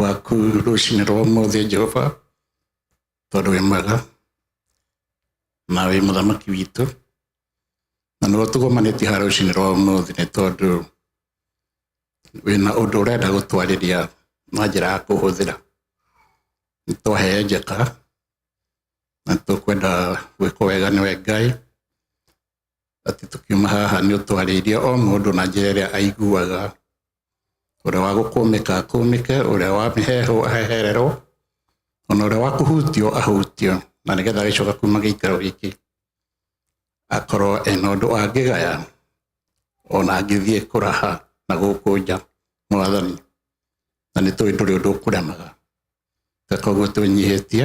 waku rũcinĩ rwa ũmũthĩ Jehova, tondũ wĩ mwega na wĩ mũthamaki witũ, na nĩwe tũgomanĩtie haha rũcinĩ rwa ũmũthĩ nĩ tondũ wĩna ũndũ ũrenda gũtwarĩria na njĩra ya kũhũthĩra. Nĩ twaheyenjeka na tũkwenda gwĩkwo wega nĩwe Ngai, atĩ tũkiuma haha nĩ ũtwarĩirie o mũndũ na njĩra ĩrĩa aiguaga ũrĩa wa gũkũmĩka akũmĩke ũrĩa wa mĩheho ahehererwo ona ũrĩa wa kũhutio ahutio na nĩgetha agĩcoka kuma gĩikaro gĩkĩ akorwo ena ũndũ angĩgaya ona angĩthiĩ kũraha na gũkũ nja mwathani na nĩ tũĩ ndũrĩ ũndũ ũkũremaga ta koguo tũnyihĩtie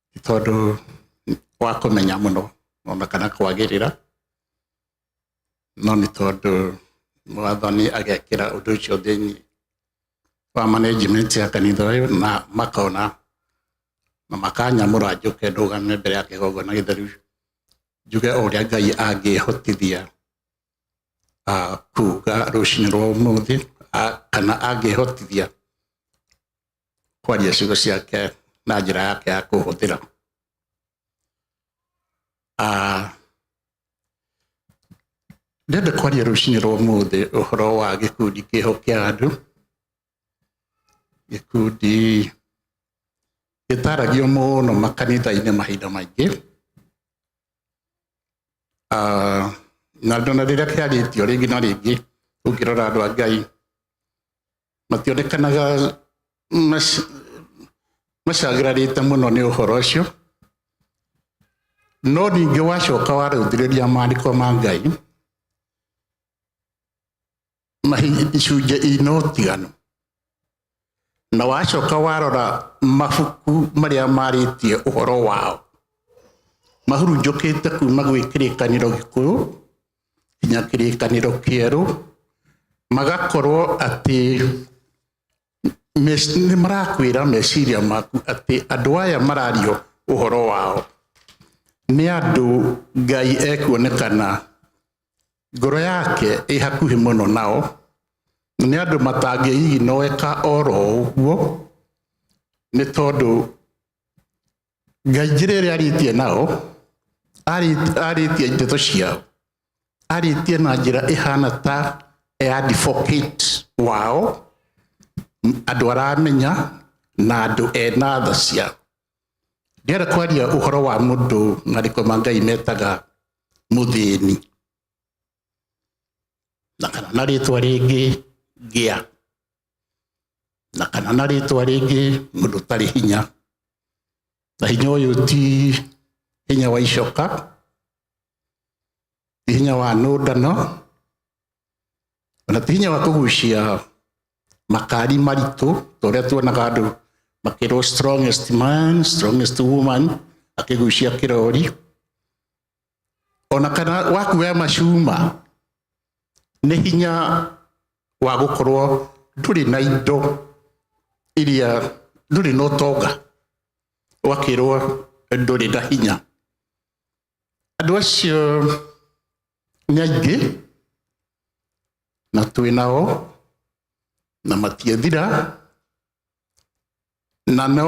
tondũ wa kũmenya mũno ona kana kwagĩrĩra no nĩ tondũ mwathani agekĩra ũndũ ũcio thĩinĩ wa management ya kanitha ũyũ na makona na makanyamũra njũke ndũgame mbere ya kĩgongona gĩtheru njuge o ũrĩa ngai angĩhotithia ah, kuga rũcinĩ rwa ũmũthĩ ah, kana angĩhotithia kwaria ciugo ciake na njĩra yake ya kũhũthĩra Ah, ndenda kwaria rũcinĩ rwa ũmũthĩ ũhoro wa gĩkundi kĩho kĩa andũ gĩkundi gĩtaragio mũno makanitha-inĩ mahinda maingĩ Ah, na ndona rĩrĩa kĩarĩtio rĩngĩ na rĩngĩ ũngĩrora andũ a ngai mationekanaga macagĩrarĩte mũno nĩ ũhoro ũcio no ningĩ wacoka warũthĩrĩria maandĩko ma ngai icunjĩ ina ũtiganu na wacoka warora mabuku marĩa marĩtie ũhoro wao mahurunjũkĩte kuma gwĩ kĩrĩkanĩro gĩkũyũ nginya kĩrĩkanĩro kĩerũ magakorwo atĩ nĩ marakwĩra meciria maku atĩ andũ aya marario ũhoro wao nĩ andũ Ngai ekuonekana ngoro yake ĩ hakuhĩ mũno nao, nĩ andũ matangĩiginoeka oro ũguo nĩ tondũ ngai njĩra ĩrĩa arĩtie nao arĩ- arĩtie ndeto ciao arĩtie na njĩra ĩhana ta ya advocate wao andũ aramenya na andũ ena tha ciao ndĩrenda kwaria ũhoro wa mũndũ marĩko ma ngai metaga mũthĩni na kana na rĩtwa rĩngĩ ngĩa na kana na rĩtwa rĩngĩ mũndũ ũtarĩ hinya na hinya ũyũ ti hinya wa icoka ti hinya wa nũndano ona ti hinya wa kũgucia makari maritũ torĩa tuonaga andũ makĩrwo strongest man strongest woman akĩgucia kĩrori ona kana wa kuoya macuma nĩ hinya wa gũkorwo ndũrĩ na indo iria ndũrĩ na ũtonga ũgakĩrwo ndũrĩ na hinya andũ acio nĩ aingĩ na twĩ nao na matiathira na no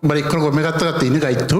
marĩkoragwo me gatagatĩ-inĩ gaitũ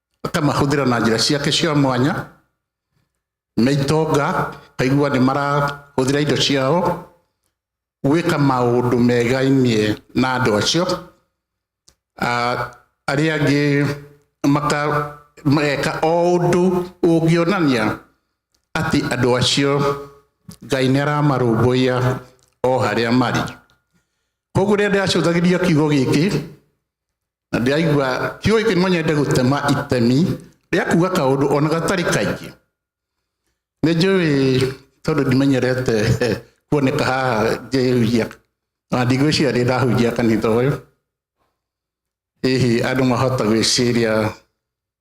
akamahũthĩra na njĩra ciake cia mwanya na itonga kaigua nĩ marahũthĩra indo ciao gwĩka maũndũ megainie na andũ acio arĩa angĩ mageka o ũndũ ũngĩonania atĩ andũ acio Ngai nĩ aramarũmbũiya o harĩa marĩ. Koguo rĩrĩa ndĩracũthagĩrĩria kiugo gĩkĩ na ndĩraigua tiũĩ kĩ no nyende gũtema itemi rĩa kuga kaũndũ ona gatarĩ kaingĩ nĩ njũĩ tondũ ndimenyerete eh, kuoneka haha ngĩhunjia ona ndigwĩciria ndĩ ndahunjia kanitha ũyũ hihi andũ mahota gwĩciria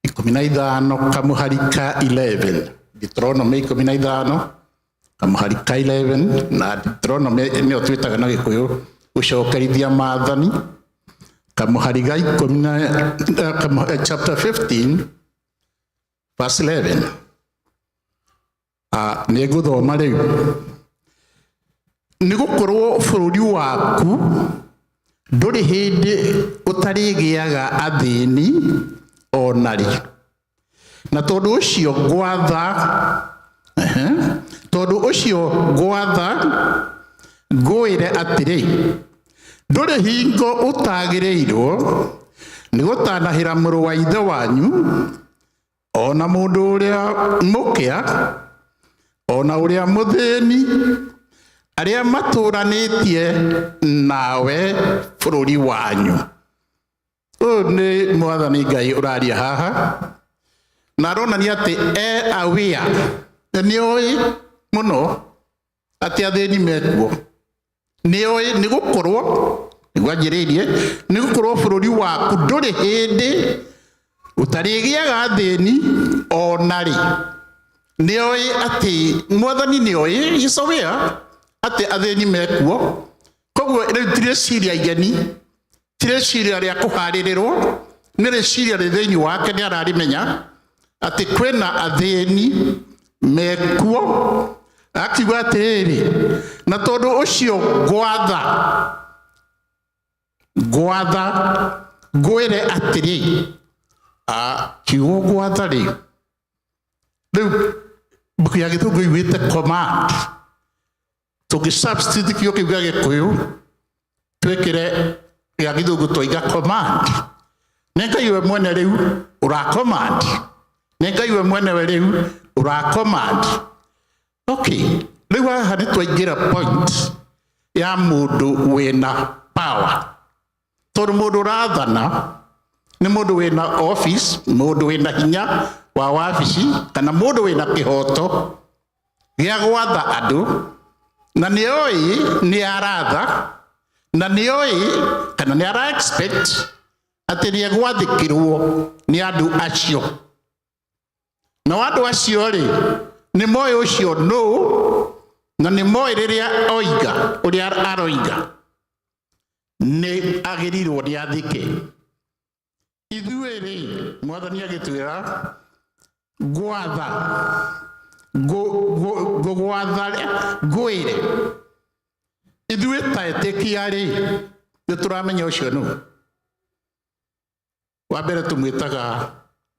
ikũmi na ithano kamũhari ka 11 Deuteronomy ikũmi na ithano kamũhari ka 11 na Deuteronomy nĩyo twĩtaga na gĩkũyũ gũcokerithia maathani kamũhari ga ikũmi na eh, kamu- eh, chapter 15 verse 11 Ah, nĩ ngũthoma rĩu nĩ gũkorwo bũrũri waku ndũrĩ hĩndĩ ũtarĩgĩaga athĩni onarĩ na tondũ ũcio ngwatha ehe, tondũ ũcio ngwatha ngwĩre atĩrĩ ndũrĩ hingo ũtagĩrĩirwo nĩ gũtanahĩra mũrũ wa ithe wanyu o na mũndũ ũrĩa mũkĩa o na ũrĩa mũthĩni arĩa matũranĩtie nawe bũrũri wanyu ũyũ nĩ mwathani ngai ũraria haha na aronania atĩ e aware na nĩ oĩ mũno atĩ athĩni mekuo nĩoĩ nĩ gũkorwo nĩguo anjĩrĩirie nĩ gũkorwo bũrũri waku ndũrĩ hĩndĩ ũtarĩgĩaga athĩni ona rĩ nĩoĩ atĩ mwathani nĩoĩ gĩcowĩa atĩ athĩni mekuo koguo rĩu tirĩciria igeni ti rĩciria rĩa kũharĩrĩrwo nĩ rĩciria rĩ thĩinĩ wake nĩ ararimenya atĩ kwĩna athĩni mekuo akiuga atĩrĩrĩ na tondũ ũcio ngwatha ngwatha ngwĩre atĩrĩ kiugo gwatha rĩ rĩu mbuku ya gĩthũngũ igwĩte command tũngĩsubstitute kĩo kĩu gĩa gĩkũyũ twĩkĩre gĩa gĩthũngũ twaiga command nĩ ngai we mwene rĩu ũracommand nĩ ngai we mwene we rĩu ũracommand okay rĩu haha nĩ twaingĩra point ya mũndũ wĩna power tondũ mũndũ ũrathana nĩ mũndũ wĩna office mũndũ wĩna hinya wa wabici kana mũndũ wĩna kĩhoto gĩa gwatha andũ na nĩ ũĩ nĩ aratha na nĩ ũĩ kana nĩ ara expect atĩ nĩ egwathĩkĩrwo nĩ andũ acio nao andũ acio rĩ nĩ moĩ ũcio nũ na nĩ moĩ rĩrĩa oiga ũrĩa aroiga nĩ agĩrĩirwo nĩ athike ithuĩ-rĩ mwathani agĩtwĩra ngwatha ngũgwatha ngwĩre ithuĩ ta etĩkia-rĩ nĩ tũramenya ũcio nũ wa mbere tũmwĩtaga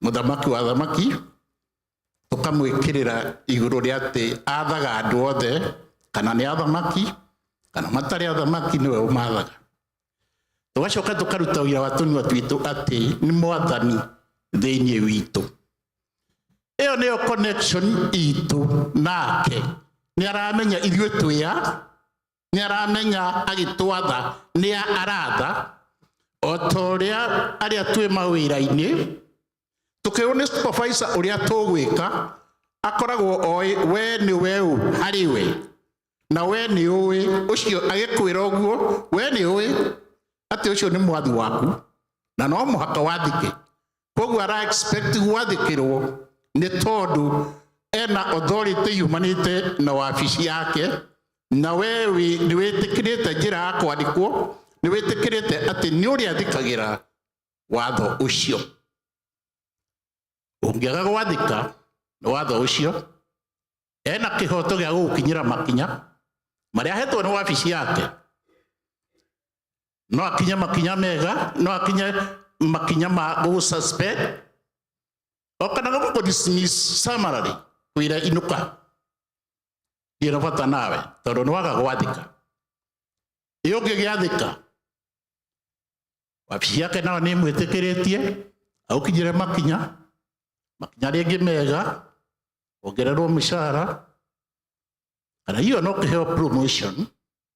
mũthamaki wa thamaki tũkamwĩkĩrĩra igũrũ rĩa atĩ athaga andũ othe kana nĩ athamaki kana matarĩ athamaki nĩwe ũmathaga tũgacoka tũkaruta wĩra wa tũnua twitũ atĩ nĩ mwathani thĩinĩ witũ ĩyo nĩyo connection itũ nake nĩ aramenya ithuĩ twĩa nĩ aramenya agĩtwatha nĩ aratha o ta ũrĩa arĩa twĩ mawĩra-inĩ tũkĩrwo nĩ supervisor ũrĩa tũgwĩka akoragwo oĩ we nĩ we ũ harĩ we na we nĩ ũĩ ũcio agĩkwĩra ũguo we nĩ ũĩ atĩ ũcio nĩ mwathi waku na no mũhaka wathike koguo ara expect gwathĩkĩrwo nĩ tondũ ena authority yumanĩte na wabici yake na we wĩ- nĩ wĩtĩkĩrĩte njĩra ya kwandĩkwo nĩ wĩtĩkĩrĩte atĩ nĩ ũrĩa thikagĩra watho ũcio ũngĩaga gwathĩka nĩ watho ũcio ena kĩhoto gĩa gũgũkinyĩra makinya marĩa ahetwo nĩ wabici yake no akinye makinya mega no akinye makinya ma go suspect okana go ko dismiss summary kuira inuka ndira bata nawe tondu ni waga gwathika iyo ungi giathika wabici yake nao ni mwitikiretie aukinyire makinya makinya ringi mega ongererwo mishahara kana hiyo no kiheo promotion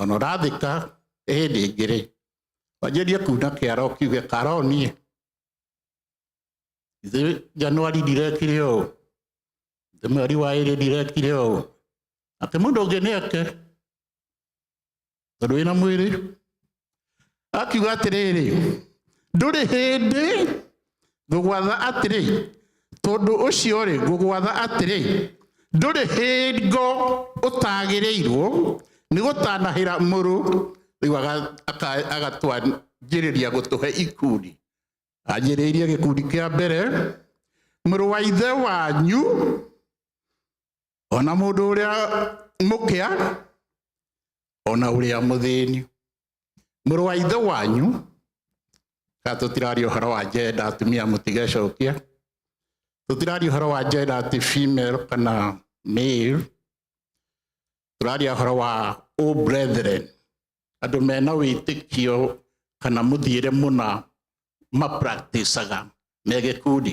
ona ũrathika ĩhĩndĩ ĩngĩ-rĩ wanjĩrie kuna kĩara ũkiuge kara onie ithe januari ndirekire ũũ ithe mweri wa ĩrĩ ndirekire ũũ atĩ mũndũ ũngĩ nĩeke tondũ wĩna mwĩrĩ akiuga atĩrĩrĩ ndũrĩ hĩndĩ ngũgwatha atĩrĩ tondũ ũcio rĩ ngũgwatha atĩrĩ ndũrĩ hingo ũtagĩrĩirwo nĩ gũtanahĩra mũrũ rĩu aga- aka- agatwanjĩrĩria gũtũhe ikundi anjĩrĩirie gĩkundi kĩa mbere mũrũ wa ithe wanyu ona mũndũ ũrĩa mũkĩa ona ũrĩa mũthĩni mũrũ wa ithe wanyu ka tũtiraria ũhoro wa jenda atumia mũtigecokia tũtiraria ũhoro wa jenda ati female kana male tũraria ũhoro wa o brethren andũ mena wĩtĩkio kana mũthiĩre mũna mapracticaga me gĩkundi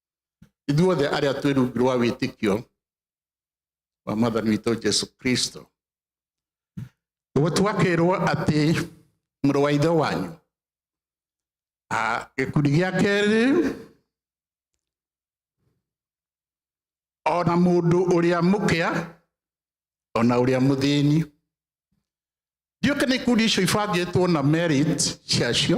ithuothe arĩa twĩ rungu rwa wĩtĩkio wa mwathani witũ jesu kristo ũguo twakĩrwo atĩ mũrũ wa ithe wanyu Ah, gĩkundi gĩa kerĩ ona mũndũ ũrĩa mũkĩa ona ũrĩa mũthĩni ndiũke nĩ ikundi icio ibangĩtwo na merit ciacio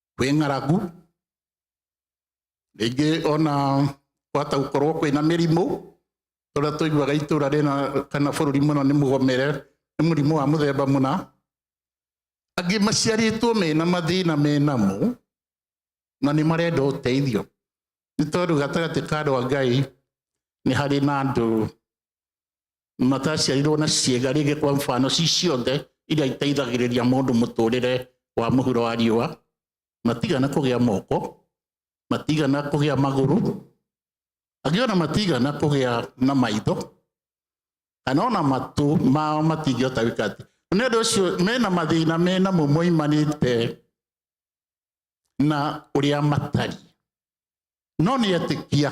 kwĩ ng'aragu, rĩngĩ ona kwahota gũkorwo kwĩna mĩrimũ, tũrĩa tũiguaga itũra rĩna kana bũrũri mũna nĩ mũgomere, nĩ mũrimũ wa mũthemba mũna, angĩ maciarĩtwo mena mathĩna menamo, na nĩ marenda ũteithio, nĩ tondũ gatagatĩ ka andũ a Ngai, nĩ harĩ na andũ mataciarirwo na ciĩga rĩngĩ kwa mfano ci ciothe iria iteithagĩrĩria mũndũ mũtũrĩre wa mũhuro wa riũa matigana kũgĩa moko matigana kũgĩa magũrũ angĩ ona matigana kũgĩa na maitho kana ona matũ mao matingĩhota gwĩka atĩ nĩ ũndũ ũcio mena mathĩna mena mo moimanĩte na ũrĩa matariĩ no nĩ etĩkia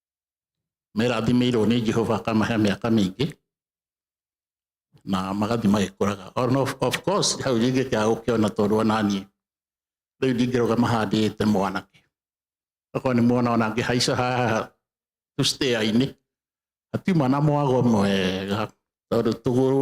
merathimĩirwo nĩ Jehova akamahe mĩaka mĩingĩ na magathiĩ magĩkũraga On of, of course hau rĩngĩ kĩa gũkĩona tondũ onaniĩ rĩu ndingĩrũgama handĩte mwanake okorwo nĩ muona ona ngĩhaica haha tũstĩa-inĩ hatiuma na mwago mwega tondũ tũgũrũ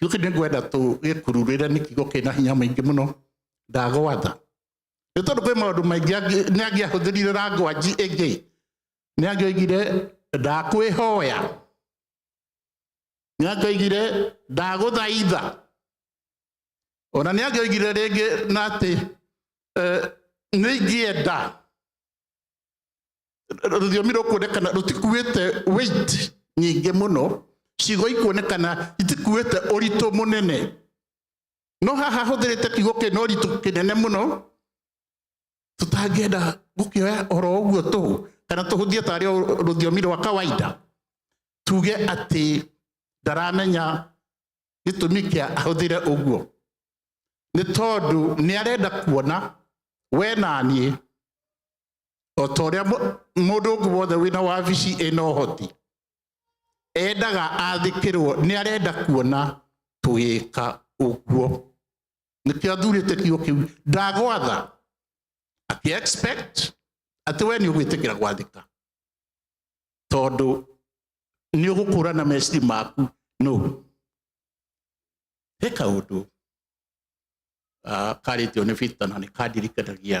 Rĩu nĩ ngwenda tũgĩkururĩre nĩ kiugo kĩna hinya mũingĩ mũno ndagwatha nĩ tondũ kwĩ maũndũ maingĩ angĩ- nĩ angĩahũthĩrire rangwanji ĩngĩ nĩ angĩoigire ndakwĩhoya nĩ angĩoigire ndagũthaitha ona nĩ angĩoigire rĩngĩ na atĩ eh, nĩ ingĩenda rũthiomi rũkuonekana rũtikuĩte weight nyingĩ mũno ciugo ikuonekana itikuĩte ũritũ mũnene no haha hũthĩrĩte kiugo kĩna ũritũ kĩnene mũno tũtangĩenda gũkĩoya oro ũguo tũ kana tũhũthie tarĩ o rũthiomi rwa kawaida tuge atĩ ndaramenya gĩtũmi kĩa ahũthĩre ũguo nĩ tondũ nĩ arenda kuona we na niĩ o ta ũrĩa mũndũ ũngĩ wothe wĩna wabici ĩna ũhoti endaga athĩkĩrwo nĩ arenda kuona tũgĩka ũguo nĩkĩo athurĩte kiugo kĩu ndagwatha akĩ expect atĩ we nĩ ũgwĩtĩkĩra gwathĩka tondũ nĩ ũgũkũrana meciri maku no he kaũndũ karĩtio nĩ bita na nĩ kandirikanagia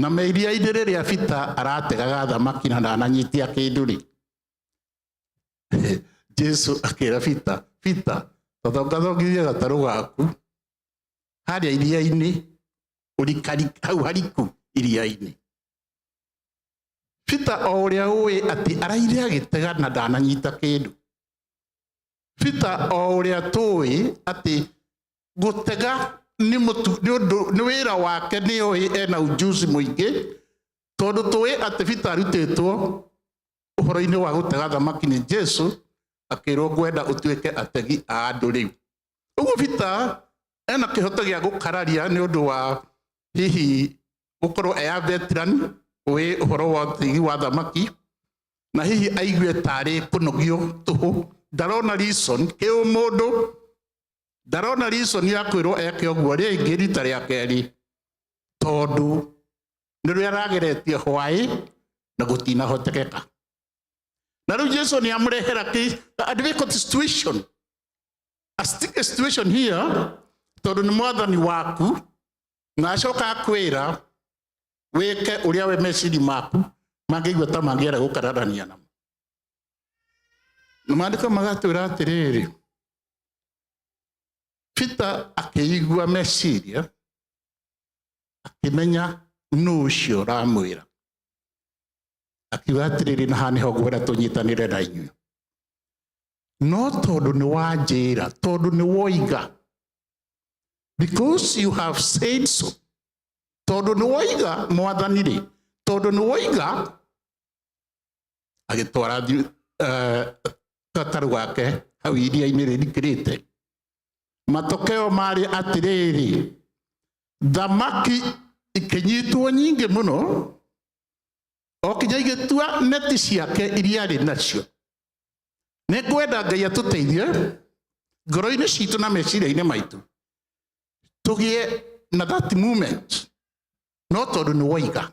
na me iria-inĩ rĩrĩa bita arategaga thamaki na ndananyitia kĩndũ rĩ jesu akĩra bita bita thongathongithia gatarũ gaku harĩa iria-inĩ ũrikari hau hariku iria-inĩ bita o ũrĩa ũĩ atĩ araire agĩtega na ndananyita kĩndũ bita o ũrĩa tũĩ atĩ gũtega nĩ mũtu- nĩ ũndũ- nĩ wĩra wake nĩ ũĩ ena ujuzi mũingĩ tondũ tũĩ atĩ bita arutĩtwo ũhoro-inĩ wa gũtega thamaki nĩ jesu akĩrwo ngwenda ũtuĩke ategi a andũ rĩu ũguo bita ena kĩhoto gĩa gũkararia nĩ ũndũ wa hihi gũkorwo eya veteran ũĩ ũhoro wa ũtegi wa thamaki na hihi aigue tarĩ kũnogio tũhũ ndarona reason kĩũmũndũ ndarona reason ya kwĩrwo eke ũguo rĩngĩ rita rĩa kerĩ tondũ nĩrĩo arageretie hwaĩ na gũtinahotekeka na rĩu jesu nĩ amũrehera kĩ- a difficult situation a sticky situation here tondũ nĩ mwathani waku na acoka akwĩra wĩke ũrĩa we meciri maku mangĩigua ta mangĩera gũkararania namo na maandĩko magatwĩra atĩrĩrĩ Peter akĩigua meciria akĩmenya nũ ũcio ũramwĩra akiuga atĩrĩrĩ na haha nĩho ngwenda tũnyitanĩre na inyuĩ no tondũ nĩ wanjĩra tondũ nĩ woiga because you have said so tondũ nĩ woiga mwathani rĩ tondũ nĩ woiga agĩtwara gatarũ gake hau iria-inĩ rĩrikĩrĩte matokeo marĩ atĩrĩrĩ thamaki ikĩnyitwo nyingĩ mũno o kinya igĩtua neti ciake iria arĩ nacio nĩ ngwenda ngai atũteithie ngoro-inĩ citũ na meciria-inĩ maitũ tũgĩe na that moment no tondũ nĩ waiga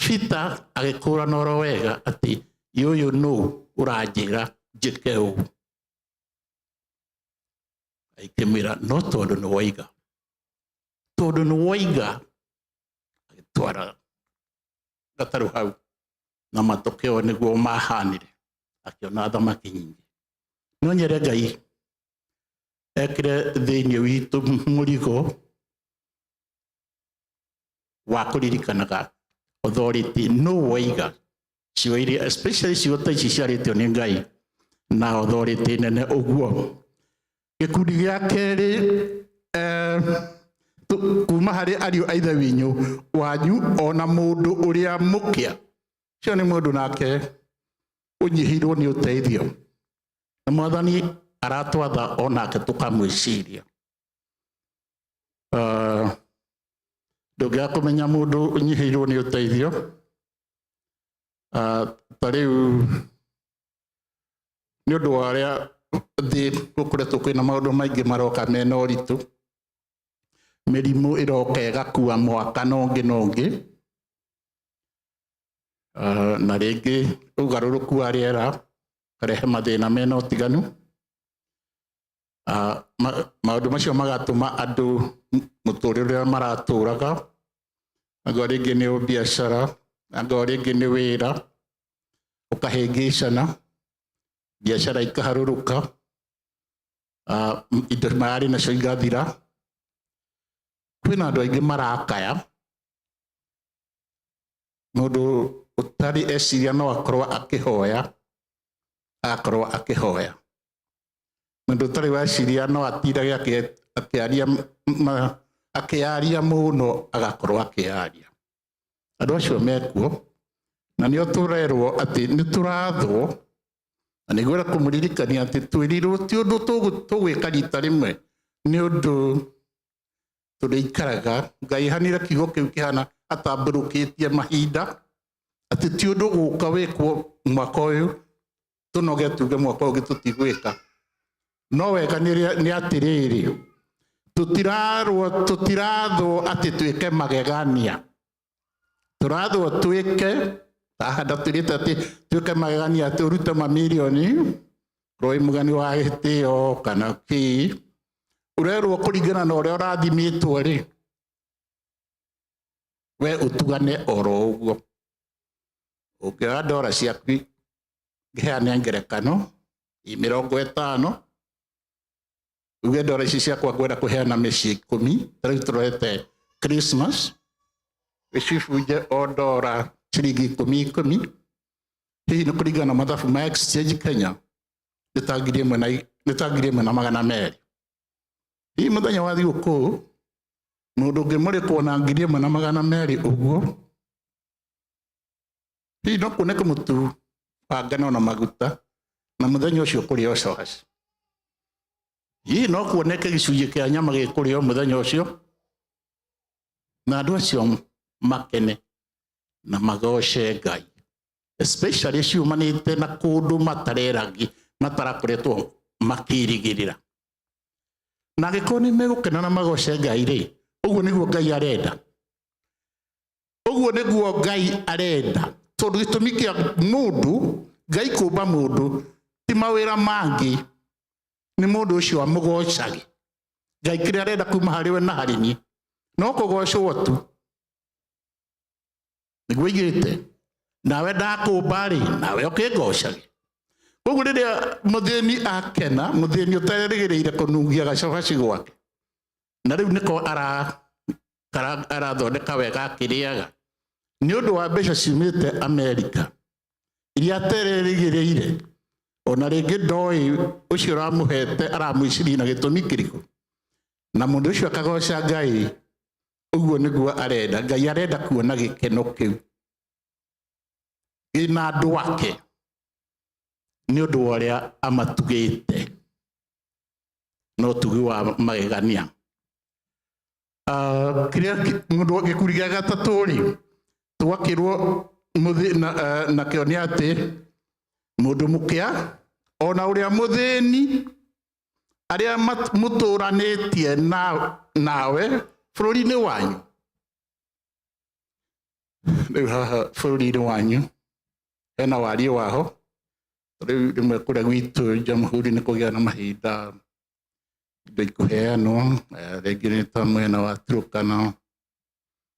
bita agĩkũrana oro wega atĩ yũyũ nũ ũranjĩra njĩke ũũ aikĩmwĩra no tondũ nĩ waiga tondũ nĩ waiga agĩtwara gatarũ hau na matokeo nĩguo mahanire akĩona thamaki nyingĩ no nyere ngai ekire thĩinĩ witũ mũrigo wa kå ririkanaga authority no waiga ciugo iria especially ciugo ta ici ciarĩtio nĩ ngai na authority nene ũguo gĩkundi gĩa kerĩ eh, tu- kuma harĩ ariũ a ithe winyu wanyu ona mũndũ ũrĩa mũkĩa ũcio nĩ mũndũ nake ũnyihĩirwo nĩ ũteithio na mwathani aratwatha o nake tũkamwĩciria Ah, ndũngĩaga kũmenya mũndũ ũnyihĩirwo nĩ ũteithio Ah, ta rĩu nĩ ũndũ wa ũrĩa thĩ gũkoretwo kwĩna maũndũ maingĩ maroka mena ũritũ mĩrimũ ĩroka ĩgakua mwaka na ũngĩ na ũngĩ Ah, na rĩngĩ ũgarũrũku wa rĩera ũkarehe mathĩna mena ũtiganu Ah, ma- maũndũ macio magatũma andũ m- mũtũũrĩre ũrĩa maratũũraga angorwo rĩngĩ nĩ ũbiacara angorwo rĩngĩ nĩ wĩra ũkahĩngĩcana biacara ikaharũrũka ah, m- indo mararĩ nacio igathira kwĩna andũ aingĩ marakaya mũndũ ũtarĩ eciria no akorwo akĩhoya agakorwo akĩhoya mũndũ ũtarĩ weciria no atindage akĩ- akĩaria m- ma- akĩaria mũno agakorwo akĩaria andũ acio mekuo na nĩo tũrerwo atĩ nĩ tũrathwo na nĩguo era kũmũririkania atĩ twĩrirwo ti ũndũ tũgũ- tũgwĩka rita rĩmwe nĩ ũndũ tũrĩikaraga ngai hanire kiugo kĩu kĩhana atambũrũkĩtie mahinda atĩ ti ũndũ gũka wĩkwo mwaka ũyũ tũnoge tuge mwaka ũyũ ũngĩ tũtigwĩka no wega nĩ rĩa- nĩ atĩrĩrĩ tũtirarwo tũtirathwo atĩ twĩke magegania tũrathwo twĩke ahanda twĩrĩte atĩ twĩke magegania atĩ ũrute mamirioni roi mũgeni wa gĩtĩo kana kĩ ũrerwo kũringana na ũrĩa ũrathimĩtwo rĩ we ũtugane oro ũguo ũngĩoya ndora ciaku ngĩheane ngerekano i mĩrongo ĩtano uge ndora ici ciakwa ngwenda kũheana mĩciĩ ikũmi ta rĩu tũrorete christmas ĩcibunje o ndora ciringi ikũmi ikũmi hihi nĩ kũringana na mathabu ma exchange kenya nĩ ta ngiri ĩmwe na i- nĩ ta ngiri ĩmwe na magana merĩ hihi mũthenya wa thigũkũ mũndũ ũngĩmũrĩkwo na ngiri ĩmwe na magana merĩ ũguo hihi no kuoneke mũtu wa ngano na maguta na mũthenya ũcio kũrĩ o cogaci hihi no kuoneke gĩcunjĩ kĩa nyama gĩkũrĩ o mũthenya ũcio na andũ acio makene na magoce ngai especially ciumanĩte na kũndũ matareragi matarakoretwo makĩrigĩrĩra na angĩkorwo nĩ megũkena na magoce ngai rĩ ũguo nĩguo ngai arenda ũguo nĩguo ngai arenda tondũ gĩtũmi kĩa mũndũ ngai kũmba mũndũ ti mawĩra mangĩ nĩ mũndũ ũcio amũgocage ngai kĩrĩa arenda kuma harĩ we na harĩ niĩ no kũgocwo tu nĩguo aigĩte nawe ndakũmba rĩ nawe ũkĩngocage koguo rĩrĩa mũthĩni akena mũthĩni ũtarerĩgĩrĩire kũnugia gacabaci gwake na rĩu nĩko ara- ara- arathondeka wega akĩrĩaga nĩ ũndũ wa mbeca ciumĩte amerika iria atererĩgĩrĩire ona rĩngĩ ndoĩ ũcio ũramũhete aramwĩciria na gĩtũmi kĩrĩkũ na mũndũ ũcio akagoca ngai ũguo nĩguo arenda ngai arenda kuona gĩkeno kĩu gĩna andũ ake nĩ ũndũ wa ũrĩa amatugĩte no tugi wa magegania Ah, kiria mundu gikuri gia gatatu ri twakirwo muthi- na ah, na kio ni ati mundu mukia ona uria muthini aria mat- mutũranĩtie na- nawe bũrũri-inĩ wanyu rĩu haha bũrũri-inĩ wanyu hena wariĩ waho Rĩu rĩmwe kũrĩa gwitũ Jamhuri nĩ kũgĩa na mahinda indo ikũheanwo, eh, rĩngĩ nĩ ta mwena wa Turkana,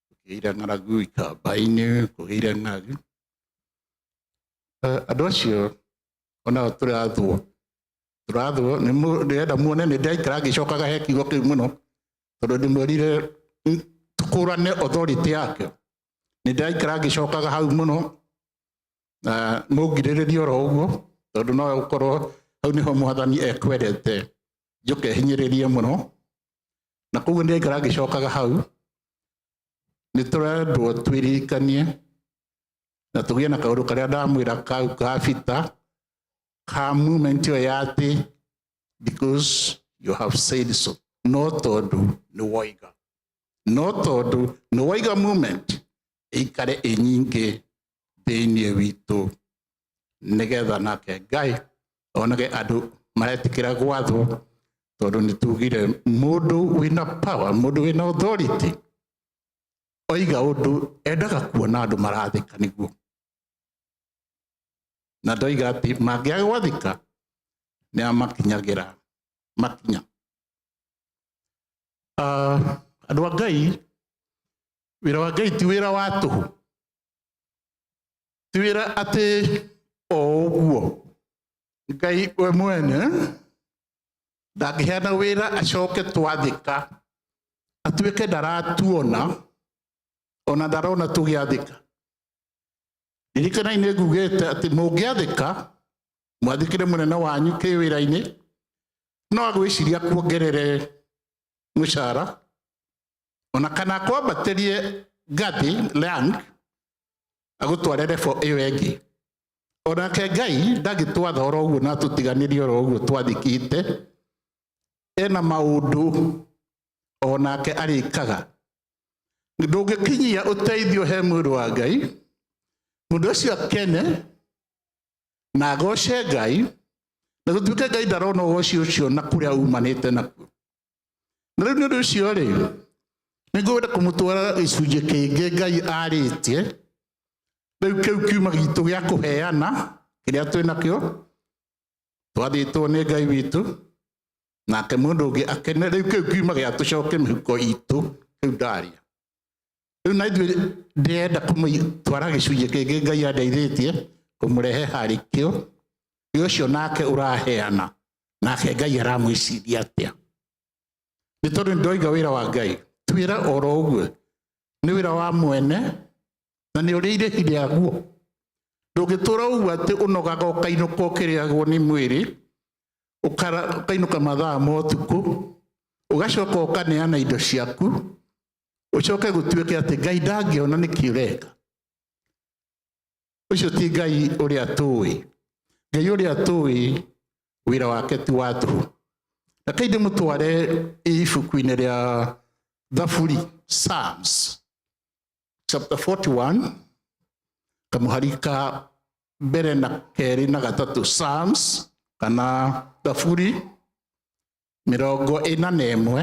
kũgĩire ng'aragu ikamba-inĩ, kũgĩire ng'aragu. Eh, Andũ acio onao tũrathwo tũrathwo nĩ mũ- ndĩrenda muone nĩ ndĩraikara ngĩcokaga he kiugo kĩu mũno tondũ ndĩmwĩrire "N- tũkũrane authority yake nĩ ndĩraikara ngĩcokaga hau mũno na mũngirĩrĩrie oro ũguo tondũ no gũkorwo hau nĩho mwathani ekwendete njũke hinyĩrĩrie mũno na koguo nĩ ngara ngĩcokaga hau nĩ tũrendwo twĩririkanie na tũgĩe na kaũndũ karĩa ndamwĩra kau ka bita ka movement ĩyo ya atĩ because you have said so no tondũ nĩ woiga no tondũ nĩ woiga movement ĩikare ĩnyingĩ thĩinĩ witũ nĩgetha nake ngai onage andũ maretĩkĩra gwathwo tondũ nĩ tugire mũndũ wĩna power mũndũ wĩna authority oiga ũndũ endaga kuona andũ marathĩka nĩguo na ndoiga atĩ mangĩaga gwathĩka nĩ amakinyagĩra makinya Ah, andũ a ngai wĩra wa ngai ti wĩra wa tũhũ tiwĩra atĩ o ũguo ngai we mwene ndangĩheana wĩra acoke twathĩka atuĩke ndaratuona ona ndarona tũgĩathĩka ririkanai nĩ ngugĩte atĩ mũngĩathĩka mwathĩkĩre mũnene wanyu kĩ wĩra-inĩ no agwĩciria kuongerere mũcara ona kana akwambatĩrie gathi land agũtware rebo ĩyo ĩngĩ onake ngai ndagĩtwatha oro ũguo na tũtiganĩrie oro ũguo twathikĩte ena maũndũ onake arĩkaga ndũngĩkinyia ũteithio he mwĩrĩ wa ngai mũndũ ũcio akene na agoce ngai na gũtuĩke ngai ndarona ũgoci ũcio na kũrĩa umanĩte nakuo na rĩu nĩ ũndũ ũcio rĩ nĩ ngwenda kũmũtwara gĩcunjĩ kĩngĩ ngai arĩtie rĩu kĩu kiuma gitũ gĩa kũheana kĩrĩa twĩ nakĩo twathĩtwo nĩ ngai witũ nake mũndũ ũngĩ akene rĩu kĩu kiuma gĩa tũcoke mĩhuko itũ kĩu ndaria rĩu na ithuĩ ndĩrenda kũmũtwara gĩcunjĩ kĩngĩ ngai andeithĩtie kũmũrehe harĩ kĩo nĩ ũcio nake ũraheana nake ngai aramwĩciria atĩa nĩ tondũ nĩndoiga wĩra wa ngai ti wĩra oro ũguo nĩ wĩra wa mwene na nĩ ũrĩ irĩhi rĩaguo ndũngĩtũra ũguo atĩ ũnogaga ũkainũka ũkĩrĩagwo nĩ mwĩrĩ ũkara- ũkainũka mathaa ma ũtukũ ũgacoka ũkaneana indo ciaku ũcoke gũtuĩke atĩ ngai ndangĩona nĩkĩ ũreka ũcio ti ngai ũrĩa tũĩ ngai ũrĩa tũĩ wĩra wake ti wa tũhũ na kaindĩ mũtware ibuku-inĩ rĩa thaburi psalms chapter 41 kamũhari ka mbere na kerĩ na gatatũ psalms kana thaburi mĩrongo ĩna na ĩmwe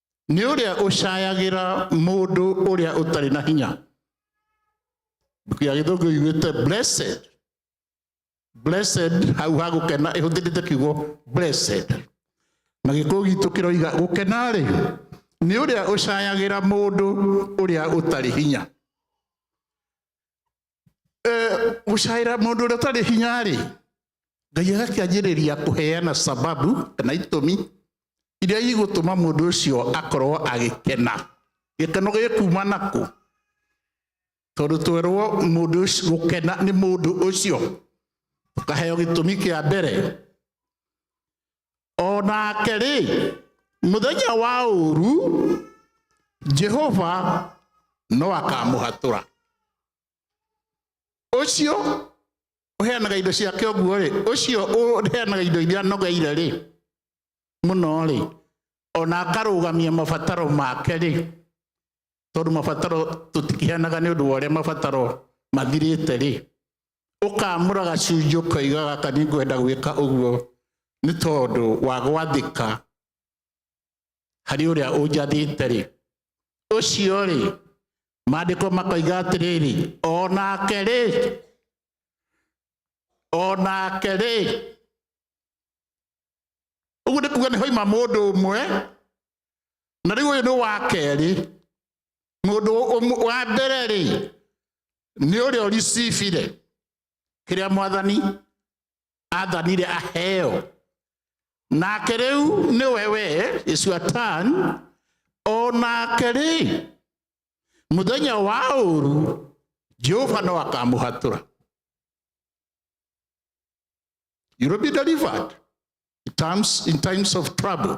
nĩ ũrĩa ũcayagĩra mũndũ ũrĩa ũtarĩ na hinya gĩa gĩthũngũ iguĩte blessed blessed hau ha gũkena ĩhũthĩrĩte kiugo blessed na gĩkũyũ gitũ kĩroiga gũkena rĩ nĩ ũrĩa ũcayagĩra mũndũ ũrĩa ũtarĩ hinya gũcaĩra mũndũ ũrĩa ũtarĩ hinya rĩ ngai agakĩanjĩrĩria kũheana sababu kana itũmi iria igũtũma mũndũ ũcio akorwo agĩkena gĩkeno gĩkuma nakũ tondũ twerwo mũndũ ũcio gũkena nĩ mũndũ ũcio ũkaheo gĩtũmi kĩa mbere o nake-rĩ mũthenya wa ũru jehova no akamũhatũra ũcio ũheanaga indo ciake ũguo-rĩ ũcio ũheanaga indo iria anogeire-rĩ mũno-rĩ ona akarũgamia mabataro make-rĩ tondũ mabataro tũtikĩheanaga nĩ ũndũ wa ũrĩa mabataro mathirĩte-rĩ ũkamũra gacunjĩ ũkaiga gaka nĩ ngwenda gwĩka ũguo nĩ tondũ wa gwathĩka harĩ ũrĩa ũnjathĩte rĩ ũcio rĩ maandĩko makoiga atĩrĩrĩ o nake rĩ o nake rĩ ũguo nĩ kuga nĩ hoima mũndũ ũmwe na rĩu ũyũ nĩ wa kerĩ mũndũ ũmwe- wa mbere rĩ nĩ ũrĩa ũricibire kĩrĩa mwathani athanire aheo nake rĩu nĩ wewe is your turn o nake rĩ mũthenya wa ũru jehova no akamũhatũra you will be delivered in times, in times of trouble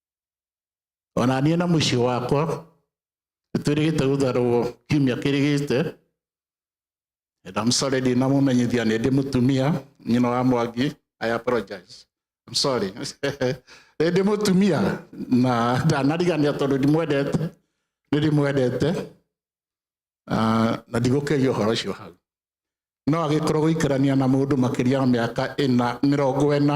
ona niĩ na mũciĩ wakwa nĩtwĩrĩgĩte gũtharwo kiumia kĩrĩgĩte and I'm sorry ndinamũmenyithia nĩ ndĩ mũtumia nyina wa mwangi I apologize I'm sorry nĩ ndĩ mũtumia na ndanarigania tondũ ndimwendete nĩ ndĩmwendete Ah, na ndigũkĩria ũhoro ũcio hau no agĩkorwo gũikarania na mũndũ makĩria ya mĩaka ĩna mĩrongo ĩna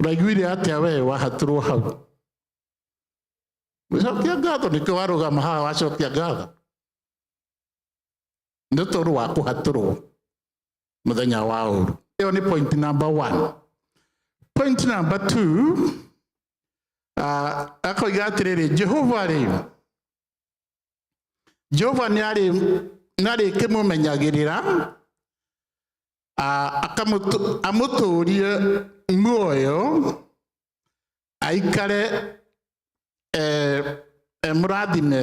Ũraiguire atĩa we wahatũrwo hau? Gũcokia ngatho nĩkĩo warũgama haha wacokia ngatho. Nĩ tondũ wa kũhatũrwo mũthenya wa ũru. Ĩyo nĩ point number one. Point number two, ah, akoiga atĩrĩrĩ, Jehova-rĩ, Jehova nĩarĩ nĩarĩkĩmũmenyagĩrĩra ah, akamutu- amũtũũrie muoyo aikare eh, eh, mũrathime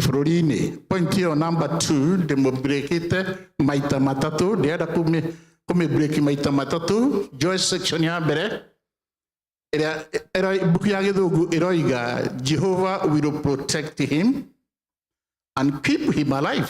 bũrũri-inĩ point ĩyo number two ndĩmũbrekĩte maita matatũ ndĩrenda kũmĩ- kũmĩbreki maita matatũ joy section ya mbere ĩrĩa ĩrĩa- mbuku ya gĩthũngũ ĩroiga jehovah will protect him and keep him alive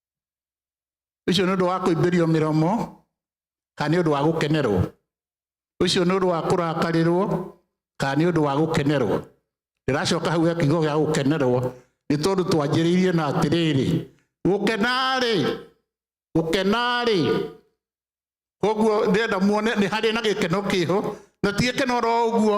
ũcio nĩ ũndũ wa kũimbĩrio mĩromo kana nĩ ũndũ wa gũkenerwo ũcio nĩ ũndũ wa kũrakarĩrwo kana nĩ ũndũ wa gũkenerwo ndĩracoka hau ya kiugo gĩa gũkenerwo nĩ tondũ twanjĩrĩirie na atĩrĩrĩ gũkenarĩ gũkenarĩ koguo ndĩrenda muone nĩ harĩ na gĩkeno kĩho na ti gĩkeno ro ũguo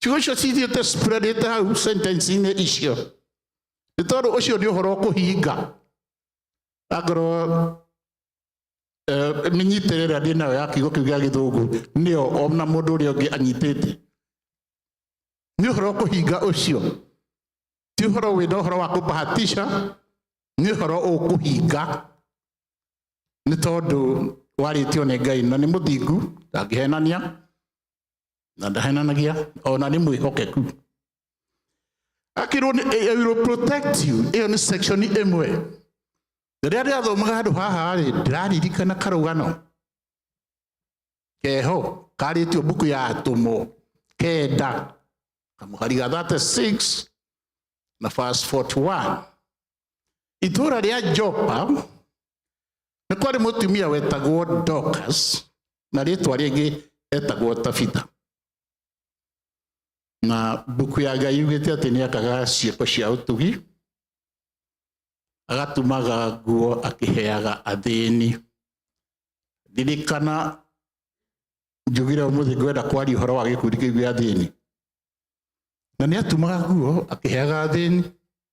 ciugo icio cithiĩte spreadĩte hau sentencinĩ icio nĩ tondũ ũcio nĩ ũhoro ũkũhinga angorwo mĩnyitĩre ĩrĩa ndĩ nayo ya kiugo kĩu gĩa gĩthũngũ nĩyo ona mũndũ ũrĩa ũngĩ anyitĩte nĩ ũhoro ũkũhinga ũcio ti ũhoro wĩna ũhoro wa kũbahatisha nĩ ũhoro ũkũhinga nĩ tondũ warĩtio nĩ ngai na nĩ mũthingu ndangĩhenania na ndahenanagia ona nĩ mwĩhokeku akirwo nĩ I will protect you ĩyo nĩ section ĩmwe rĩrĩa ndĩrathomaga handũ haha rĩ ndĩraririkana karũgano keho karĩtio mbuku ya atũmwo kenda kamũhari ga 36 na verse 41 itũũra rĩa jopa nĩ kwarĩ mũtumia wetagwo dokas na rĩtwa rĩngĩ etagwo tabitha na mbuku ya ngai yugĩte atĩ nĩ akaga ciĩko cia ũtugi agatumaga nguo akĩheaga athĩni ndirikana njugire ũmũthĩ ngwenda kwaria ũhoro wa gĩkundi kĩu gĩa athĩni na nĩ atumaga nguo akĩheaga athĩni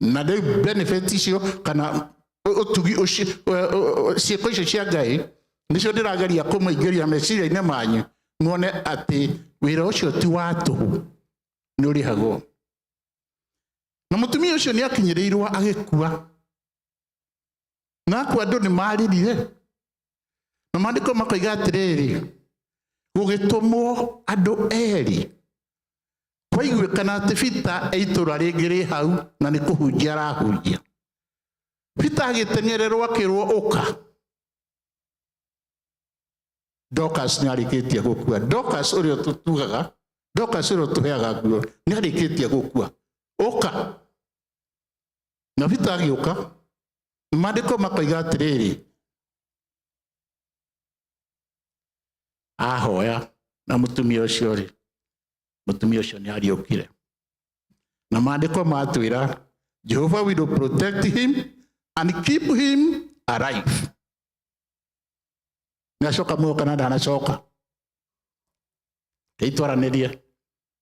na de benefits yo kana otugi ciĩko icio cia ngai nĩcio ndĩrageria kũmũingĩria meciria-inĩ manyu muone atĩ wĩra ũcio ti wa tũhũ nĩ ũrĩhagwo na mũtumia ũcio nĩ akinyĩrĩirwo agĩkua na akua andũ nĩ maririre na maandĩko makoiga atĩrĩrĩ gũgĩtũmwo andũ erĩ Kwaiguĩkana atĩ Bita e itũra rĩngĩ rĩ hau na nĩ kũhunjia arahunjia. Bita agĩteng'ererwo akĩrwo ũka. Dorcas nĩ arĩkĩtie gũkua. Dorcas ũrĩa tũtugaga, Dorcas ũrĩa tũheaga nguo nĩ arĩkĩtie gũkua. Ũka. Na Bita agĩũka. Maandĩko makoiga atĩrĩrĩ, ahoya na mutumia ucio ri mutumia ucio ni ariukire na maandiko matwira jehova will protect him and keep him alive niacoka muoyo kana ndanacoka keitwaranirie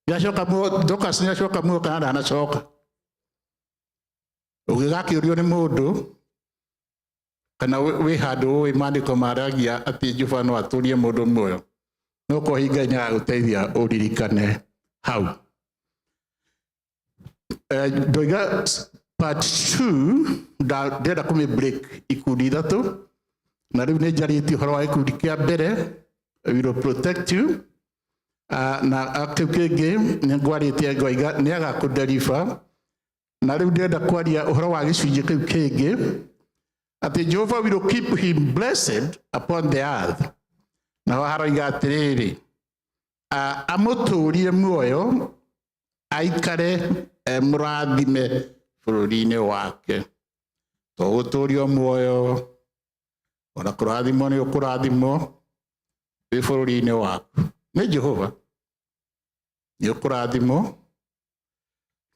niacoka muoyo dokas niacoka muoyo kana ndanacoka ũngĩgakiũrio nĩ mũndũ kana wĩ handũ ũĩ maandĩko maragia atĩ Jehova no atũrie mũndũ muoyo no ko hinga nĩ agũteithia ũririkane hau eh, ndoiga part 2 ndĩrenda kũmĩ break ikundi ithatũ na rĩu nĩ njarĩtie ũhoro wa gĩkundi kĩa mbere will protect you ah, na ah, kĩu kĩngĩ nĩ ngwarĩtie ngoiga nĩ agakũnderiba na rĩu ndĩrenda kwaria ũhoro wa gĩcunjĩ kĩu kĩngĩ atĩ jehova will keep him blessed upon the earth naho haroiga atĩrĩrĩ "A- amũtũũrie muoyo aikare eh, mũrathime bũrũri-inĩ wake to gũtũũrio muoyo ona kũrathimwo nĩ ũkũrathimwo wĩ bũrũri-inĩ waku nĩ jehova nĩ ũkũrathimwo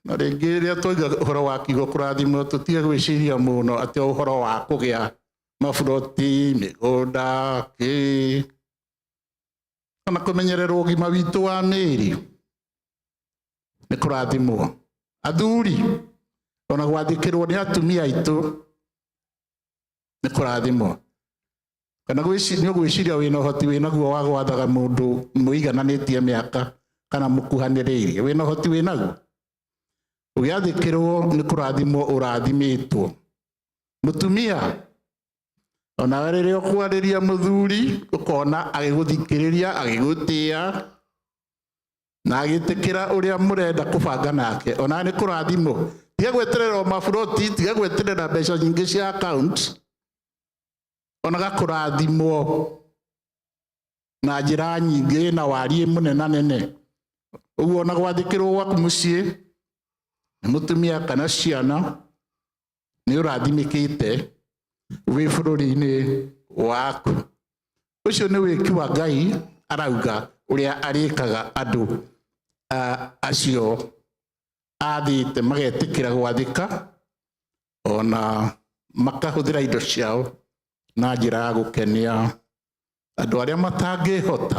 na rĩngĩ rĩrĩa twaiga ũhoro wa kiugo kũrathimwo tũtige gwĩciria mũno atĩ o ũhoro wa kũgĩa maburoti mĩgũnda kĩ ona kũmenyerera ũgima witũ wa mĩĩrĩ nĩ kũrathimwo athuri ona gwathĩkĩrwo nĩ atumia aitũ nĩ kũrathimwo kana gwĩci- nĩ ũgwĩciria wĩna ũhoti wĩnaguo wa gwathaga mũndũ mũigananĩtie mĩaka kana mũkuhanĩrĩirie wĩna ũhoti wĩnaguo ũgĩathĩkĩrwo nĩ kũrathimwo ũrathimĩtwo mũtumia onawe rĩrĩa ũkwarĩria mũthuri ũkona agĩgũthikĩrĩria agĩgũtĩa na agĩtĩkĩra ũrĩa mũrenda kũbanga nake ona nĩ kũrathimwo tiga gweterera maburoti tiga gweterera mbeca nyingĩ cia account onaga kũrathimwo na njĩra nyingĩ na wariĩ mũnenanene ũguo ona gwathĩkĩrwo gwaku mũciĩ nĩ mũtumia kana ciana nĩ ũrathimĩkĩte wĩ bũrũri-inĩ waku ũcio nĩ wĩki wa ngai arauga ũrĩa arĩkaga andũ ah, acio athĩte magetĩkĩra gwathĩka ona makahũthĩra indo ciao na njĩra ya gũkenia andũ arĩa matangĩhota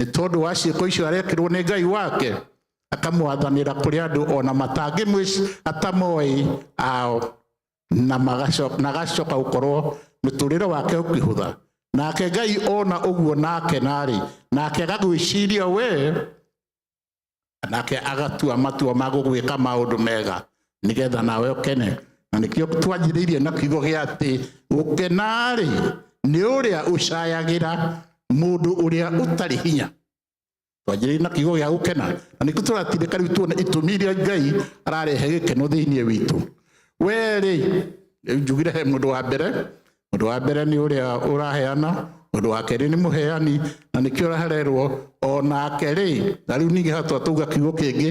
nĩ tondũ wa ciĩko icio arekĩrwo nĩ ngai wake akamwathanĩra kũrĩ andũ ona matangĩmwĩci atamoĩ ao na magaco- na agacoka gũkorwo mũtũrĩre wake ũkĩhũtha nake ngai ona ũguo nake narĩ nake agagwĩciria wee nake agatua matua ma gũgwĩka maũndũ mega nĩgetha nawe ũkene na nĩkĩo twanjĩrĩirie na kiugo gĩa atĩ gũkena-rĩ nĩ ũrĩa ũcayagĩra mũndũ ũrĩa ũtarĩ hinya twanjĩrĩirie na kiugo gĩa gũkena na nĩkĩo tũratindĩka rĩu tuona itũmi iria ngai ararehe gĩkeno thĩinĩ witũ we-rĩ njugire he mũndũ wa mbere Ũndũ wa mbere nĩ ũrĩa ũraheana, ũndũ wa kerĩ nĩ mũheani, na nĩkĩo ũrahererwo o nake rĩ, na rĩu ningĩ hatua tuga kiugo kĩngĩ,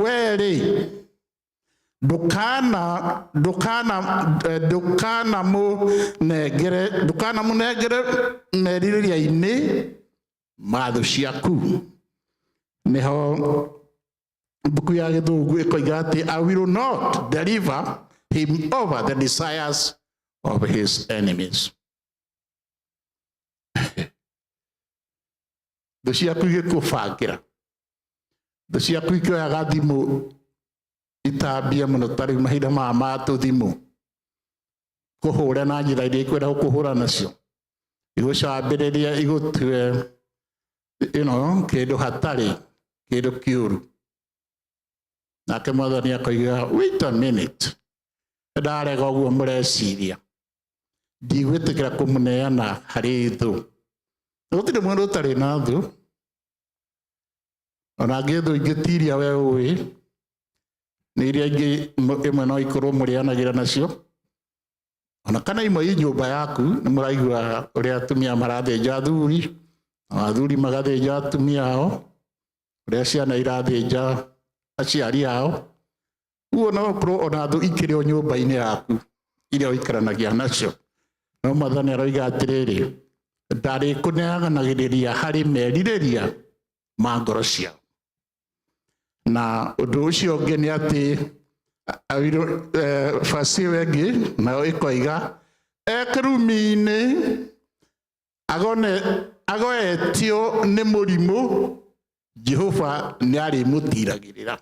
we rĩ, ndũkana ndũkana eh, ndũkana mũnengere ndũkana mũnengere merirĩria-inĩ ma thũ ciaku nĩho mbuku ya gĩthũngũ ĩkoiga atĩ i will not deliver him over the desires of his enemies thũ ciaku igĩkũbangĩra thũ ciaku ikĩoyaga thimũ itambia mũno ta rĩu mahinda maya ma tũthimũ kũhũra na njĩra iria ikwenda gũkũhũra nacio igũcambĩrĩria igũtue you know, kĩndũ hatarĩ kĩndũ kĩũru nake mwathani akoiga wait a minute ndarega ũguo mũreciria ndigwĩtĩkĩra kũmũneana harĩ thũ gũtirĩ mũndũ ũtarĩ na thũ ona angĩ thũ ingĩtiria we ũĩ nä iria ingä ä mwe no ikorwo må rä anagä ra nacio ona kana imwe i nyũmba yaku nĩ mũraigua ũrĩa atumia marathĩnja athuri na athuri magathĩnja atumia ao ũrĩa ciana irathĩnja aciari ao uguo no ũkorwo ona thũ ikĩrĩ o nyũmba-inĩ yaku iria ũikaranagia nacio no mwathani aroiga atĩrĩrĩ ndarĩkũneanagĩrĩria harĩ merirĩria ma ngoro ciao na ũndũ ũcio ũngĩ nĩ atĩ awirũ basi ĩyo ĩngĩ nayo ĩkoiga e kĩrumi-inĩ agone agoetio nĩ mũrimũ jehova nĩ arĩmũtiragĩrĩra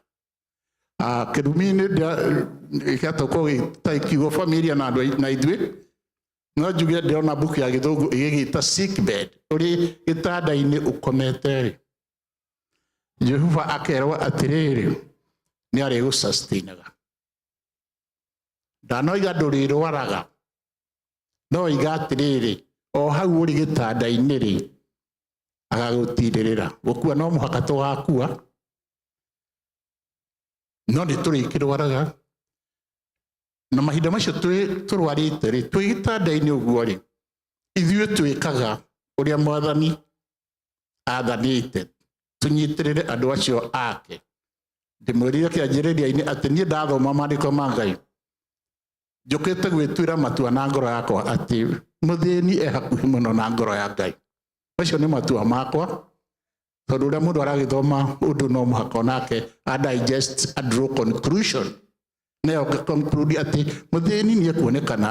Ah, kĩrumi-inĩ gĩgatũkwo gĩtakiugo familia na andũ ai- na ithuĩ no njuge ndĩrona mbuku ya gĩthũngũ ĩgĩgĩta sick bed ũrĩ gĩtanda-inĩ ũkomete rĩ jehova akerwo atĩrĩrĩ nĩ arĩgũsastinaga ndanoiga ndũrĩrwaraga no oiga atĩrĩrĩ o hau ũrĩ gĩtanda-inĩ rĩ agagũtirĩrĩra gũkua no mũhaka tũgakua no nĩ tũrĩkĩrwaraga na mahinda macio tũrwarĩte rĩ twĩ gĩtanda-inĩ ũguo rĩ ithuĩ twĩkaga ũrĩa mwathani athanĩte tũnyitĩrĩre andũ acio ake ndĩmwĩrire kĩanjĩrĩria-inĩ atĩ niĩ ndathoma maandĩko ma ngai njũkĩte gwĩtuĩra matua na ngoro yakwa atĩ mũthĩni e hakuhĩ mũno na ngoro ya ngai macio nĩ matua makwa tondũ ũrĩa mũndũ aragĩthoma ũndũ no mũhaka onake a digest a draw conclusion nayo conclude atĩ mũthĩni nĩ ekuonekana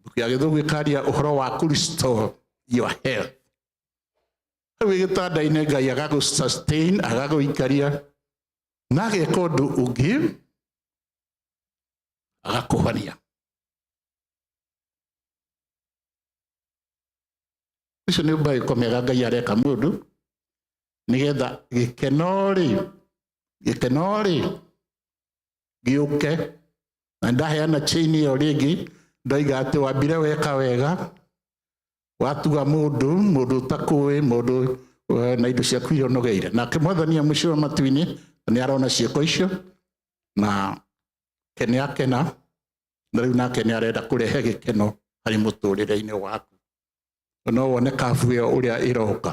Mbuku ya gĩthũngũ ĩkaria ũhoro wa kũ restore your health hau wĩ gĩtanda-inĩ ngai agagũ sustain agagũikaria na ageka ũndũ ũngĩ agakũhonia icio nĩ mbaĩko mega ngai areka mũndũ nĩgetha gĩkeno rĩ gĩkeno rĩ gĩũke na ndaheana chain ĩyo rĩngĩ ndoiga atĩ wambire weka wega watuga mũndũ mũndũ ũtakũĩ mũndũ eh, na indo ciaku iria ũnogeire nake mwathani amũcura matu-inĩ nĩ arona ciĩko icio na ke nĩ akena na rĩu nake nĩ arenda kũrehe gĩkeno harĩ mũtũrĩre-inĩ waku no wone kabu ĩyo ũrĩa ĩroka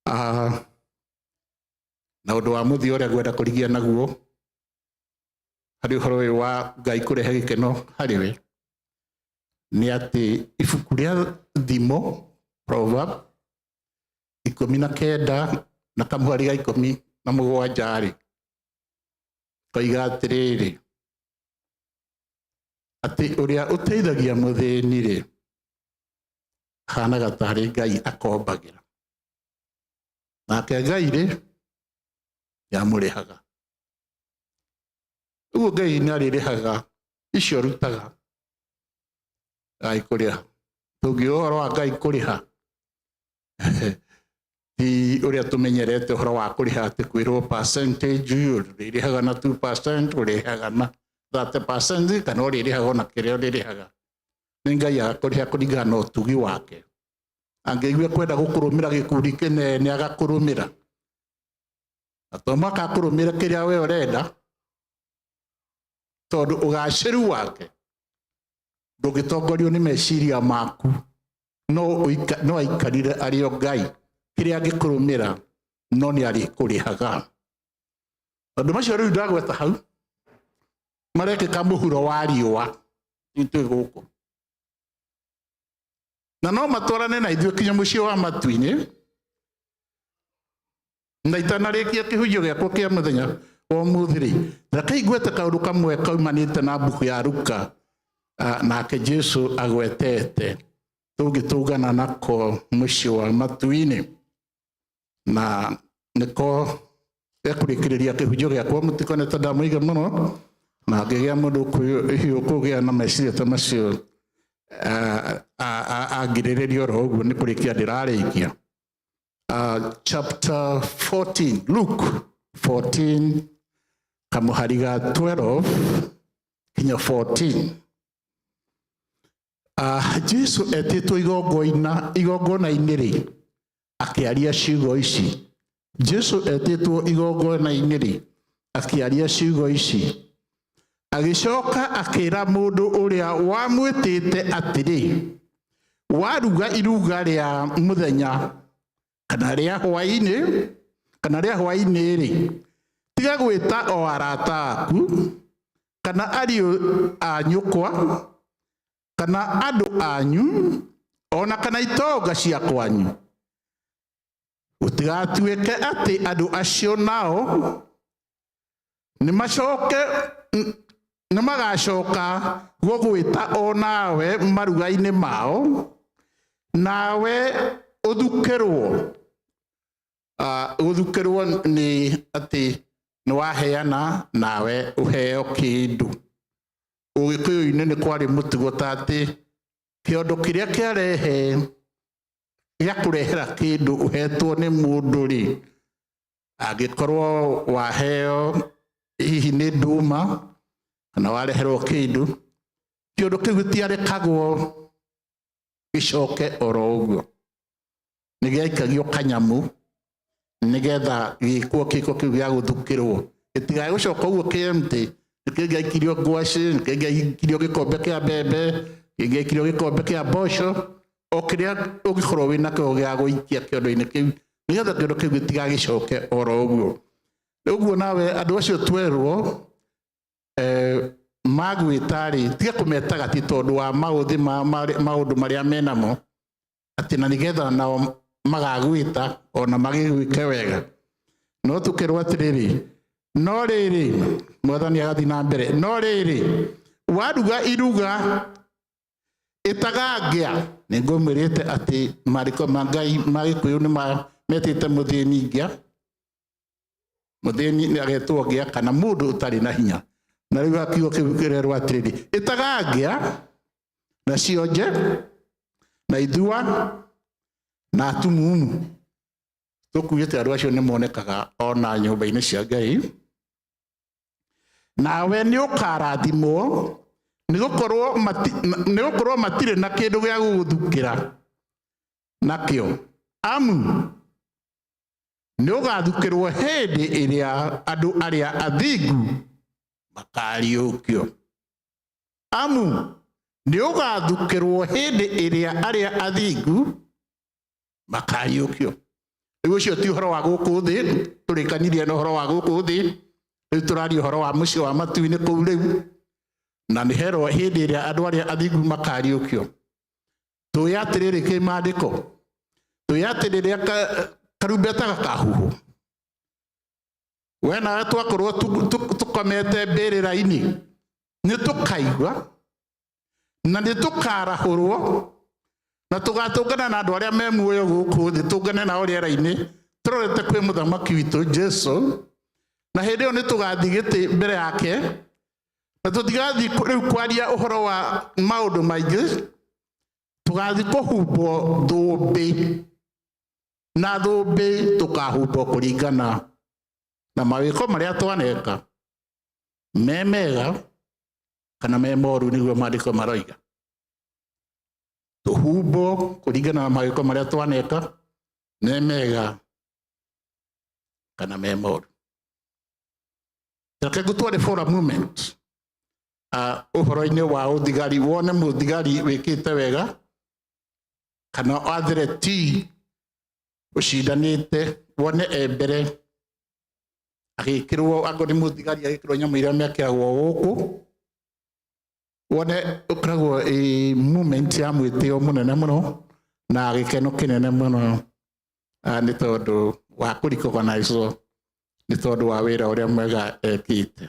Ah, na å ndå wa må thia å rä a ngwenda kå rigia naguo harä å horo å yå wa ngai kå rehe gä keno harä we nä atä ibuku rä a thimo proverb ikũmi na kenda na kamũhari ga ikũmi na mũgwanja rĩ koiga atĩrĩrĩ atĩ ũrĩa ũteithagia mũthĩni rĩ hanaga tarĩ ngai akombagĩra nake ngai rĩ nĩ amũrĩhaga ũguo ngai nĩ arĩrĩhaga icio rutaga ngai kũrĩha tũngiũa ũhoro wa ngai kũrĩha ti ũrĩa tũmenyerete ũhoro wa kũrĩha atĩ kwĩrwo percentage ũrĩrĩhaga na 2 percent ũrĩrĩhaga na 30 percent kana ũrĩrĩhaga ona kĩrĩa ũrĩrĩhaga nĩ ngai agakũrĩha kũringana na ũtugi wake angĩigua kwenda gũkũrũmĩra gĩkundi kĩnene agakũrũmĩra na to mwaka akũrũmĩra kĩrĩa we ũrenda tondũ ũgacĩru wake ndũngĩtongorio nĩ meciria maku no ũika- no aikarire arĩ o ngai kĩrĩa angĩkũrũmĩra no nĩ arĩkũrĩhaga tondũ macio rĩu ndagweta hau marekĩka mũhuro wa riũa itwĩ gũkũ na no matwarane na ithuĩ kinya mũciĩ wa matu-inĩ na itanarĩkia kĩhunjio gĩakwa kĩa mũthenya wa ũmũthĩ-rĩ rekei ngwete kaũndũ kamwe kaumanĩte na mbuku ya ruka Ah, nake jesu agwetete tũngĩtũngana nako mũciĩ wa matu-inĩ na nĩko ekũrĩkĩrĩria kĩhunjio gĩakwa mũtiko nĩ tondũ ndamũiga mũno na ngĩgĩa mũndũ hiũ kũgĩa na meciria ta macio angirĩrĩria oro ũguo nĩ kũrĩkia ndĩrarĩkia chapter 14 luke 14 kamũhari ga 12 kinya 14 Ah, jesu etĩtwo igongoina igongona-inĩ rĩ akĩaria ciugo ici jesu etĩtwo igongona-inĩ rĩ akĩaria ciugo ici agĩcoka akĩra mũndũ ũrĩa wamwĩtĩte atĩrĩ waruga iruga rĩa mũthenya kana rĩa hwaĩ-inĩ kana rĩa hwaĩ-inĩ rĩ tiga gwĩta o arata aku kana ariũ a nyũkwa kana andũ anyu ona kana itonga cia kwanyu gũtigatuĩke atĩ andũ acio nao nĩmacoke n- nĩmagacoka gũgwĩta o nawe maruga-inĩ mao nawe ũthukĩrwo Ah, gũthukĩrwo nĩ atĩ nĩwaheana nawe ũheo kĩndũ ũgĩkũyũ-inĩ nĩ kwarĩ mũtugo ta atĩ kĩondo kĩrĩa kĩarehe gĩa kũrehera kĩndũ ũhetwo nĩ mũndũ rĩ angĩkorwo waheo hihi nĩ nduma kana wareherwo kĩndũ kĩũndũ kĩu gĩtiarekagwo gĩcoke oro ũguo nĩ gĩaikagio kanyamũ nĩgetha gĩkwo kĩko kĩu gĩa gũthukĩrwo gĩtigae gũcoka ũguo kĩemtĩ nĩkĩo gĩaikirio ngwacĩ nĩkĩo gĩaikirio gĩkombe kĩa mbembe nĩkĩo gĩaikirio gĩkombe kĩa mboco o kĩrĩa ũngĩkorwo wĩ nakĩo gĩa gũikia kĩondo-inĩ kĩu nĩgetha kĩondo kĩu gĩtigagĩcoke oro ũguo ũguo nawe andũ acio twerwo eh, magwĩtarĩ tiga kũmetaga ti tondũ wa maũthĩ ma- ma- maũndũ marĩa menamo atĩ na nĩgetha nao magagwĩta ona magĩgwĩke wega no tũkerwo atĩrĩrĩ no rĩrĩ mwathani agathiĩ na mbere no rĩrĩ waruga iruga ĩtagangĩa nĩ ngũmwĩrĩte atĩ marĩko ma ngai ma gĩkũyũ nĩ ma- metĩte mũthĩni ngĩa mũthĩni nĩ agetwo ngĩa kana mũndũ ũtarĩ na hinya na rĩu akiugo kĩu kĩrerwo atĩrĩrĩ ĩtagangĩa na cionje na ithua na atumumu tũkuĩte andũ acio nĩ monekaga ona nyũmba-inĩ cia ngai nawe nĩ ũkarathimwo nĩ gũkorwo mati- na- nĩ gũkorwo matirĩ na kĩndũ gĩa gũgũthukĩra nakĩo amu nĩ ũgathukĩrwo hĩndĩ ĩrĩa andũ arĩa athingu makariũkio amu nĩ ũgathukĩrwo hĩndĩ ĩrĩa arĩa athingu makariũkio rĩu ũcio ti ũhoro wa gũkũ thĩ tũrĩkanirie na ũhoro wa gũkũ thĩ rĩu tũraria ũhoro wa mũciĩ wa matu-inĩ kũu rĩu na nĩ hero hĩndĩ ĩrĩa andũ arĩa athingu makariũkio tũĩ atĩrĩrĩ kĩ maandĩko tũĩ atĩ rĩrĩa ka- karumbeta gakahuhwo we nawe twakorwo tu- tu- tũkomete mbĩrĩra-inĩ nĩ tũkaigua na nĩ tũkarahũrwo na tũgatũngana na andũ arĩa me muoyo gũkũ thĩ tũngane nao rĩera-inĩ tũrorete kwĩ mũthamaki witũ jesu na hĩndĩ ĩyo nĩ tũgathiĩ gĩtĩ mbere yake na tũtigathiĩ kũ- rĩu kwaria ũhoro wa maũndũ maingĩ tũgathiĩ kũhumbwo thũmbĩ na thũmbĩ tũkahumbwo kũringana na mawĩko marĩa twaneka me mega kana me moru nĩguo maandĩko maroiga tũhumbwo kũringana na magĩko marĩa twaneka me mega kana me moru reke ngũtware for a moment uh, ũhoro-inĩ wa ũthigari wone mũthigari wĩkĩte wega kana athire ti ũcindanĩte wone e mbere agĩkĩrwo angorwo nĩ mũthigari agĩkĩrwo nyamũ iria mekĩragwo gũkũ wone ũkoragwo ĩ movement ya mwĩtĩo mũnene mũno na gĩkeno kĩnene mũno ah, nĩ tondũ wa kũrikogonaicwo nĩ tondũ wa wĩra ũrĩa mwega ekĩte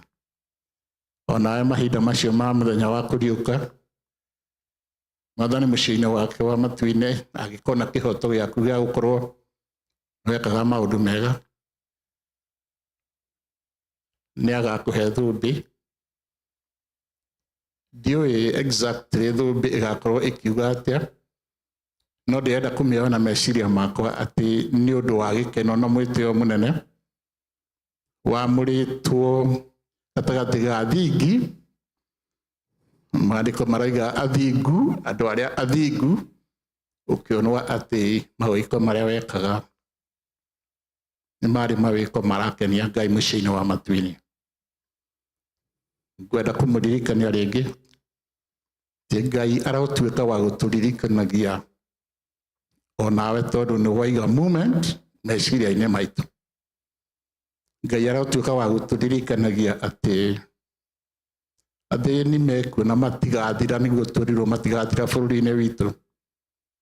onawe mahinda macio ma mũthenya wa kũriũka mwathani mũciĩ-inĩ wake wa matu-inĩ agĩkona kĩhoto gĩaku gĩa gũkorwo wekaga maũndũ mega nĩ agakũhe thũmbĩ ndiũĩ exactly thũmbĩ ĩgakorwo ĩkiuga atĩa no ndĩrenda kũmĩoya na meciria makwa atĩ nĩ ũndũ wa gĩkeno na mwĩtĩo mũnene wamũrĩtwo gatagatĩ ga thingi maandĩko maraiga athingu andũ arĩa athingu ũkĩonwa atĩ maũiko marĩa wekaga nĩ marĩ mawĩko marakenia ngai mũciĩ-inĩ wa matuinĩ ngwenda kũmũririkania rĩngĩ ti ngai aratuĩka wa gũtũririkanagia onawe tondũ nĩ waiga moment meciria-inĩ maitũ ngai aratuĩka wa gũtũririkanagia atĩ athĩni mekuo na matigathira nĩguo tũrirwo matigathira bũrũri-inĩ witũ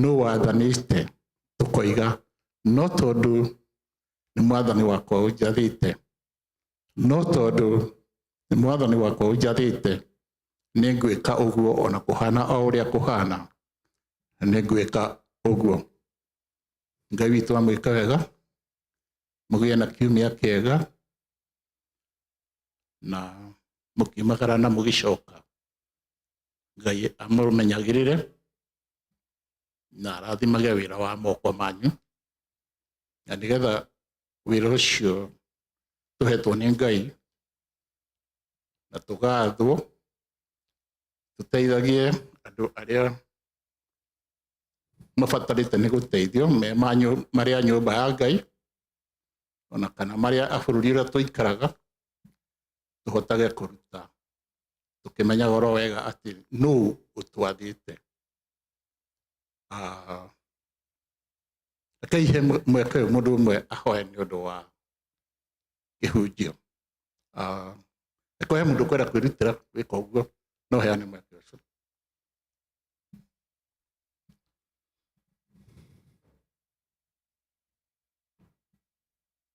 nũ wathanĩte tũkoiga no tondũ nĩ mwathani wakwa ũnjathĩte no tondũ nĩ mwathani wakwa ũnjathĩte nĩ ngwĩka ũguo ona kũhana o ũrĩa kũhana nĩ ngwĩka ũguo ngai witũ amwĩka wega mũgĩe na kiumia kĩega na mũkiumagara na mũgĩcoka ngai amũmenyagĩrĩre na arathimage wĩra wa moko manyu na nĩgetha wĩra ũcio tũhetwo nĩ ngai na tũgathwo tũteithagie andũ arĩa mabatarĩte nĩ gũteithio me marĩa nyũmba ya ngai ona kana marĩa a bũrũri ũrĩa tũikaraga tũhotage kũruta tũkĩmenyaga oro wega atĩ nũ ũtwathĩte Ah, rekei he mwe- mweke ũyũ mũndũ ũmwe ahoe nĩ ũndũ wa kĩhunjio Ah, eko he mũndũ kwenda kwĩrutĩra gwĩka ũguo no heane mweke ũcio